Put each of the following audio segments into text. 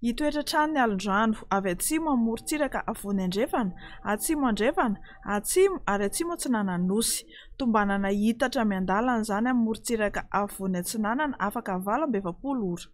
Hitoetra trano ny alondrano avy atsimo amin'ny morontsiraka afovoany andrefana, atsimo andrefana, atsimo ary atsimo atsinanan'ny Nosy. Tombanana hiitatra miandalana izany amin'ny morontsiraka afovoany atsinanana afaka valo amby efapolo ora.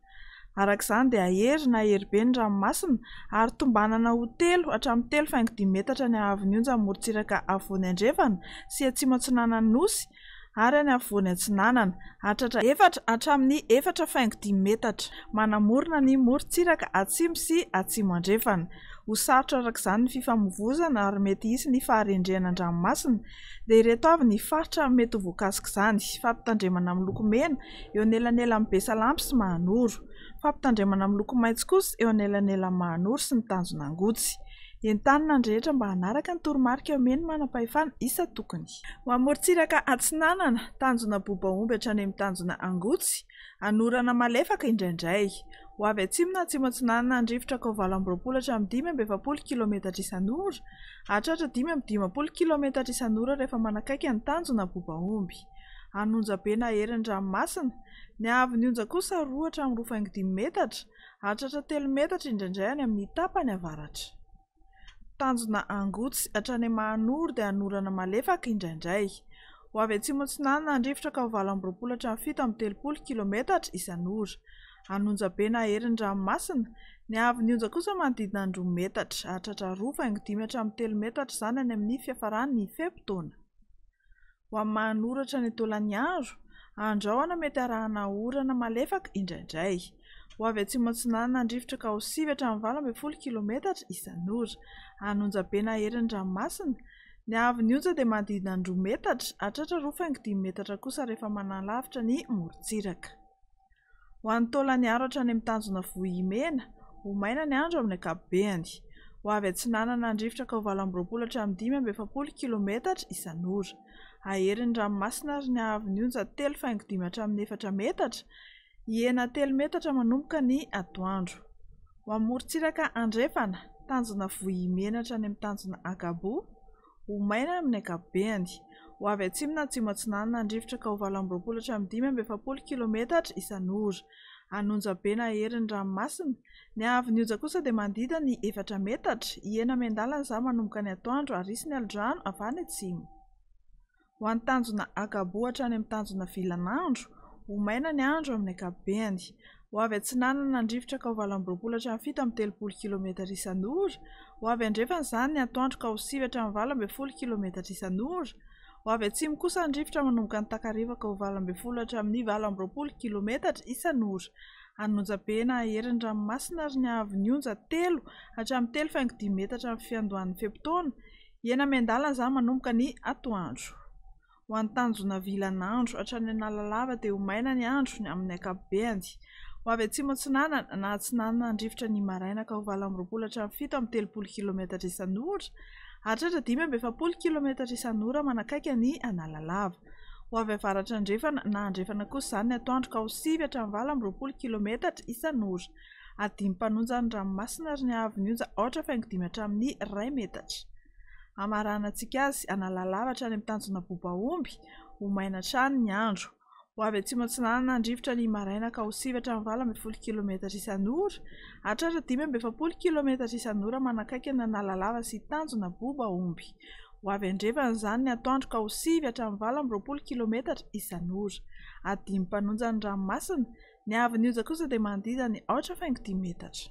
Araka izany dia hahery na heribe ny ranomasina ary tombanana ho telo hatramin'ny telo faingo dimy metatra ny haavon'ny onjan'ny morontsiraka afovoany andrefana sy atsimo atsinanan'ny Nosy ary any afovoany atsinanana, hahatratra efatra hatramin'ny efatra faingo dimy metatra, manamorona ny morontsiraka atsimo sy atsimo andrefana. Ho sarotra araka izany ny fifamoivoizana ary mety hisy ny faharendrehana an-dranomasina, dia ireto avy ny faritra mety ho voakasik'izany, fampitandremana miloko mena eo anelanelan'i Besalampy sy Mahanoro, fampitandremana miloko maitso kosa eo anelanelan'i Mahanoro sy ny Tanjon'Angotsy. Entanina ny rehetra mba hanaraka ny toromarika omen'ny manampahefana isa-tokony. Ho any morontsiraka atsinanana, tanjona bobaomby hatrany amin'ny tanjona angotsy, anorana malefaka indraindray. Ho avy atsimo na atsimo atsinanana ny rivotra kao valo amby roapolo hatramin'ny dimy amby efapolo kilaometatra isan'ora, hahatratra dimy amby dimampolo kilaometatra isan'ora rehefa manakaiky ny tanjona bobaomby. Any onjabe naherin'ny ranomasina, ny haavon'ny onja kosa roa hatramin'ny roa faingo dimy metatra, hahatratra telo metatra indraindray any amin'ny tapany avaratra. Tanjona Angotsy, hatrany Mahanoro dia hanorana malefaka indraindray. Ho avy atsimo atsinanana ny rivotra ka ho valo amby roapolo hatramin'ny fito amby telopolo kilometatra isan'ora. An'Onjabe naherin'ny ranomasina. Ny haavon'ny onja kosa manodidina ny roa metatra, hahatratra roa faingo dimy hatramin'ny telo metatra izany any amin'ny fiafaran'ny fe-potoana. Ho amin'ny maha-anoratra ny tolaniandro, andraoana mety harahana orana malefaka indraindray. Ho avy atsimo atsinanana ny rivotra ka ho sivy hatramin'ny valo ambin'ny folo kilometatra isan'ora. Any Onjabe naherin'ny ranomasina, ny haavon'ny onja dia manodidina ny roa metatra, hatratra roa faingo dimy metatra kosa rehefa manalavitra ny morontsiraka. Ho an'ny taolan'ny aro hatrany amin'ny tanjona vohimena, ho maina ny andro amin'ny ankapobeny. Ho avy atsinanana ny rivotra ka ho valo amby roapolo hatramin'ny dimy amby efapolo kilometatra isan'ora. Haherin'ny ranomasina ary ny haavon'ny onja telo faingo dimy hatramin'ny efatra metatra, hihena telo metatra manomboka ny atoandro. Ho amin'ny morontsiraka andrefana, tanjona vohimena hatrany amin'ny tanjona ankabo. Ho maina amin'ny ankapobeny. Ho avy atsimo na atsimo atsinanana handrifotra ka ho valo amby roapolo hatramin'ny dimy amby efapolo kilometatra isan'ora. An'Onja be na herin'ny ranomasina. Ny haavon'ny Onja kosa dia manodidina ny efatra metatra. Hihena miandalana izany manomboka ny atoandro ary hisy ny alin-drano avy any atsimo. Ho an'ny tanjona Agabo hatrany amin'ny tanjona Vilan'andro, ho maina ny andro amin'ny ankapobeny. Ho avy atsinanana nandrifotra ka ho valo amby roapolo hatramin'ny fito amby telopolo kilometatra isan'ora, ho avy andrefana izany ny atoandro ka ho sivy hatramin'ny valo ambin'ny folo kilometatra isan'ora, ho avy atsimo kosa ny rivotra manomboka ny takariva ka ho valo ambin'ny folo hatramin'ny valo amby roapolo kilometatra isan'ora. An'onjabe na aherin'ny ranomasina ary ny haavon'ny onja telo hatramin'ny telo faingo dimy metatra amin'ny fiandohan'ny fe-potoana, Hena miandala za manomboka ny atoandro. Ho an'ny tanjona vilan'andro hatrany Analalava dia ho maina ny andro ny amin'ny ankapobeny. Ho avy atsimo-atsinanana na atsinanana handrifotra ny maraina ka ho valo amby roapolo hatramin'ny fito amby telopolo kilometatra isan'ora hahatratra dimy amby efapolo kilometatra isan'ora manakaiky an'i Analalava. Ho avy avaratra andrefana na andrefana kosa izany ny atoandro ka ho sivy hatramin'ny valo amby roapolo kilometatra isan'ora. ary dimy mpanonja ny ranomasina ary ny haavon'ny onja aotra faingo dimy hatramin'ny iray metatra. Hamaranantsika azy hanala lava hatrany amin'ny tanjona bobaomby, ho maina hatrany ny andro. Ho avy atsimo atsinanana ny rivotra ny maraina ka ho sivy hatramin'ny valo ambin'ny folo kilometatra isan'ora hatrany dimy amby efapolo kilometatra isan'ora manakaiky ny Analalava sy tanjona bobaomby. Ho avy andrefan'izany ny atoandro ka ho sivy hatramin'ny valo amby roapolo kilometatra isan'ora. Adimy mpanonja ny ranomasina. Ny haavon'ny oja kosa dia manodidina ny aotra faingo dimy metatra.